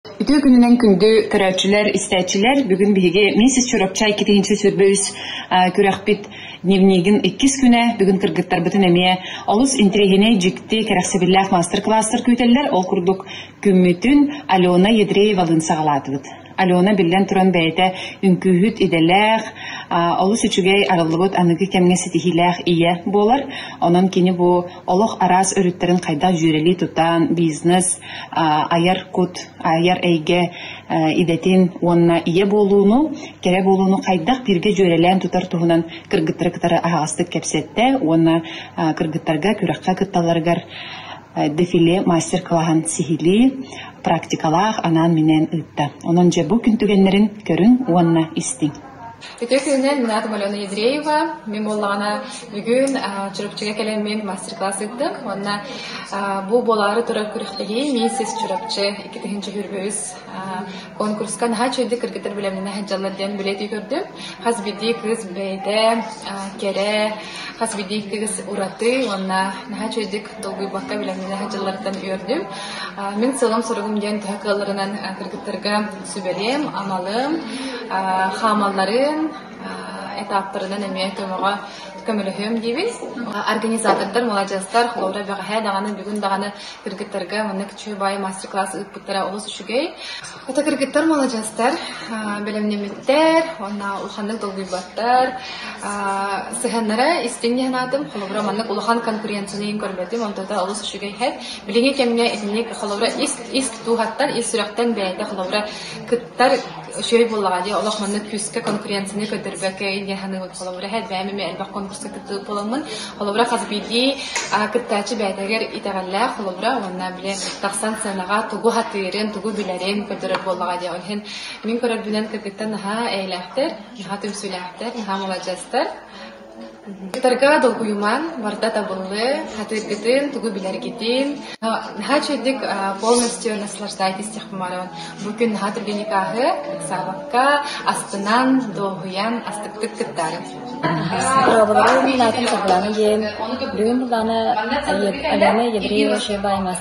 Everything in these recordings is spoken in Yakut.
Үтүө күнүнэн күндү көрөөччүлэр, истээччилэр, бүгүн биһиги Миссис Чурапчай китиһимсэ сүрбэ үс күрэхпит дневнигин иккис күнэ бүгүн кыргыттарбытын эмиэ олус интириэһинэй, дьикти, кэрэхсэбиллээх мастер-класстар күүтэллэр. Ол курдук күммүтүн Алена Ядреева-Лын саҕалаатыбыт. Алена биллэн туран бэйэтэ үҥкүүһүт идэлээх, олус үчүгэй арыллыбыт аныгы кэмҥэ ситиһиилээх ийэ буолар. Онон кини бу олох араас өрүттэрин хайдах дьүөрэлии тутан, бизнес, айар кут, айар эйгэ идэтин уонна ийэ буолууну, кэрэ буолууну хайдах биргэ дьүөрэлээн тутар туһунан кыргыттары кытары аһаҕастык кэпсэттэ уонна кыргыттарга күрэххэ кытталларыгар дефиле мастер-клаһын сиһилии практикалаах анаан-минээн ыытта. Онон дьэ бу күн түгэннэрин көрүн уонна истиҥ. Ити күнүнэн минаатым Алена Ядреева. Мин буоллаҕына бүгүн Чурапчыга кэлэммин мастер-класс ыыттык. Уонна бу буолаары турар күрэхтэһии Мин сис Чурапчы 2000-үс конкурска наһаа чэйдик кыргыттар билэмнэнэ сылдьаллар диэн билетии көрдүм. Хас биирдии кыыс бэйдэ кэрэ, хас биирдии кыыс ураты уонна наһаа чэйдик долгуйбакка билэмнэнэ сылдьалларыттан үөрдүм. Мин сыалым-соругум диэн төһө кыалларынан кыргыттарга сүбэлиим, аналым, хаамалларын этаптарынан эмиэ көмөҕө көмөлөһүөм диэбиз. Организатордар, муладьыастар, холобура бэҕэһээ даҕаны бүгүн даҕаны кыргыттарга маннык күчүбай мастер-класс ыыппыттара олус үчүгэй. Ото кыргыттар муладьыастар бэлэмнэммиттэр, онна улаханнык долгуйбаттар. Сыһаннара истиҥ санаатым, холобура маннык улахан конкуренцияны көрбөтүм, онтота олус үчүгэй хэт. Билиҥҥи кэмҥэ итинник холобура ис ис дууһаттан, ис сүрэхтэн бэйэтэ холобура кыттар үчүгэй буоллаҕа дии олох манна күүскэ конкуренцияны көрдөрбөккө илдьэ саныыбын холобура элбэх эмэ элбэх конкурска кыттыы буоламмын холобура хас биирдии кыттааччы бэйэтигэр итэҕэллээх холобура уонна били тахсан сценаҕа тугу хатыырын тугу билэрин көрдөрөр буоллаҕа дии иһин мин көрөрбүнэн кыргыттар наһаа эйэлээхтэр наһаа түмсүүлээхтэр наһаа маладьыастар Ыйытарга долгуйумаҥ, барыта табыллыы, хатыыргытын, тугу билэргитин наһаа үчүгэй полностью наслаждайтесь тех хомоороҕун. Бу күн наһаа түргэн никааһы, ыксаабакка, астынан, дуоһуйан, астыктык кыттаарыҥ. Роболовым Латын Таглана диэн бүгүн булана Алена Евреева Шебаймас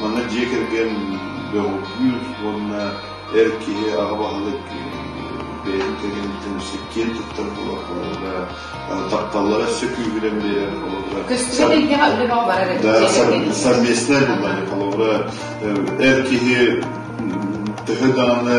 Манна дьиэ кэргэн бөҕүкүүр уонна эр киһи аҕа баһылык бэйэтин кэргэниттэн сиккиэн туттар буоларга тапталлара өссө күүһүрэн биэрэр олордо көстүбэт илгэҕэ үлэбэҕ барар совместная была это эр киһи төһө даҕаны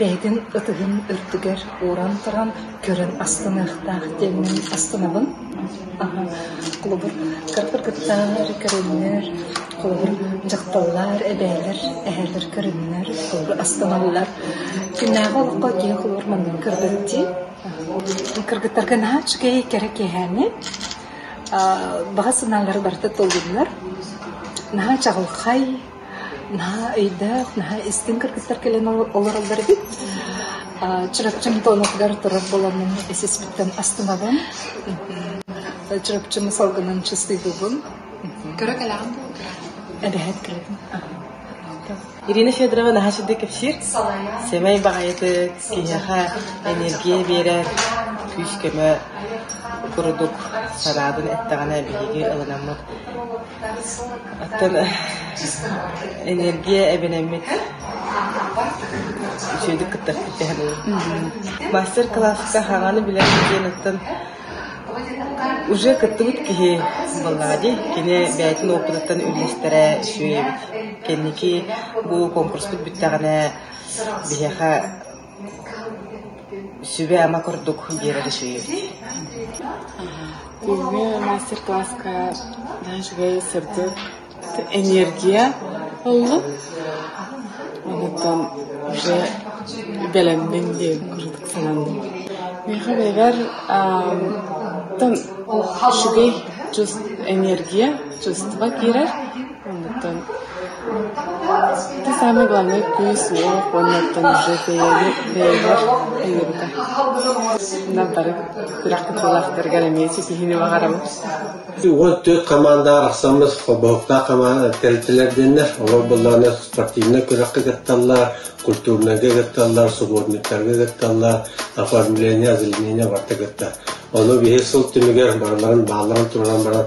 Бэйэтин ытыһын үрдүгэр ууран туран көрөн астыныахтаах диэммин астынабын. Холобур, кырдык кыттаары көрүннэр, холобур, дьахталлар, эбээлэр, эһээлэр көрүннэр холобур астыналлар. Күннээҕи олоххо киһи холобур маннык көрбөттүү кыргыттарга наһаа үчүгэй кэрэ киэһээни баҕа санаалара барыта толлуннар, наһаа чаҕылхай наһаа өйдөөх, наһаа истиҥ кыргыттар кэлэн олороллор эбит. Чурапчым туонатыгар турар буоланын исиспиттэн астынабын. Чурапчым салгынан чыстыыбыбын. Көрө кэлэҕин бу? Эбэһэт кэлэбин. Ирина Федорова наһаа сүдэ кэпсиир. Сэмэй баҕайытык, киһиэхэ энергия биэрэр, күүс-көмө курдук санаабын эттэҕинэ биһиги ылынаммыт энергия эбэнэммит үчүгэйдик кытта эппиттэһэн мастер класска хаҕаны билэр диэн оттон уже кыттыбыт киһи буоллаҕа дии кини бэйэтин опытыттан үллэстэрэ үчүгэй эбит кэнники бу конкурспут бүттэҕинэ биһиэхэ Сүбэ ама курдук биэрэрэ сүүйэ. Ini мастер-класска даже сырдык энергия oldu. Онуттан уже бэлэммин диэн курдук сананным. Миэхэ бэйэбэр үчүгэй энергия, чувство киирэр. Оннуттан ити самый главный кыыс уол уоннуттан дьэ бэйэни бэйэбэр айыыбыта. Ынах бары күрэх кыттыылаахтарыгар эмиэ ситиһиини баҕарабын. Уол төрүт хамаандаҕа арахсаммыт холбоһуктаах хамаанда тэрилтэлэрдэннэр, олор былаана спортивнай күрэххэ кытталлар, культурнайга кытталлар, субботниктарга кытталлар, оформление, озеленение барыта кыттар. Ону биһир сыл түмүгэр барыларын баалларын турунан баран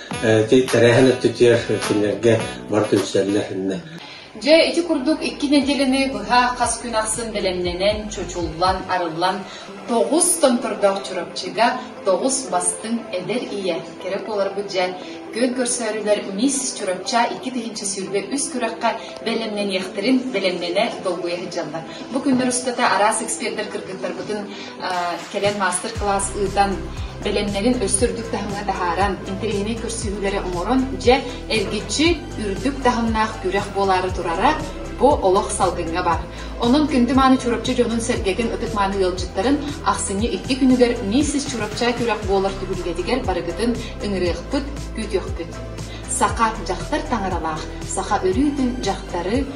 тэрээһин өттүтүгэр кинилэргэ бар түмсэллэр Дьэ, ити курдук икки нэдиэлэни быһа хас күн ахсын бэлэмнэнэн, чочуллан, арыллан тоҕус томтордоох Чурапчыга тоҕус бастыҥ эдэр ийэ кэрэ буоларбыт дьэ көл көрсөөрүлэр Мисс Чурапча икки тыһыынча сүүрбэ үс күрэххэ бэлэмнэниэхтэрин бэлэмнэнэ долгуйа сылдьаллар. Бу күннэр устата араас эксперттэр кыргыттарбытын кэлэн маастар-кылаас ыытан, бэлэмнэрин өссө үрдүк таһымҥа таһааран, интэриэһинэй көрсүһүүлэри оҥорон, дьэ, эргиччи үрдүк таһымнаах күрэх буолаары турара бу олох салгыҥҥа бар. Онон күндү-мааны Чурапчы дьонун-сэргэтин ытык-мааны ыалдьыттарын ахсынньы икки күнүгэр Миссис Чурапча күрэх буолар түһүлгэтигэр барыгытын ыҥырыахпыт, күүтүөхпүт. Саха дьахтар таҥаралаах, саха өрүүтүн дьахтары,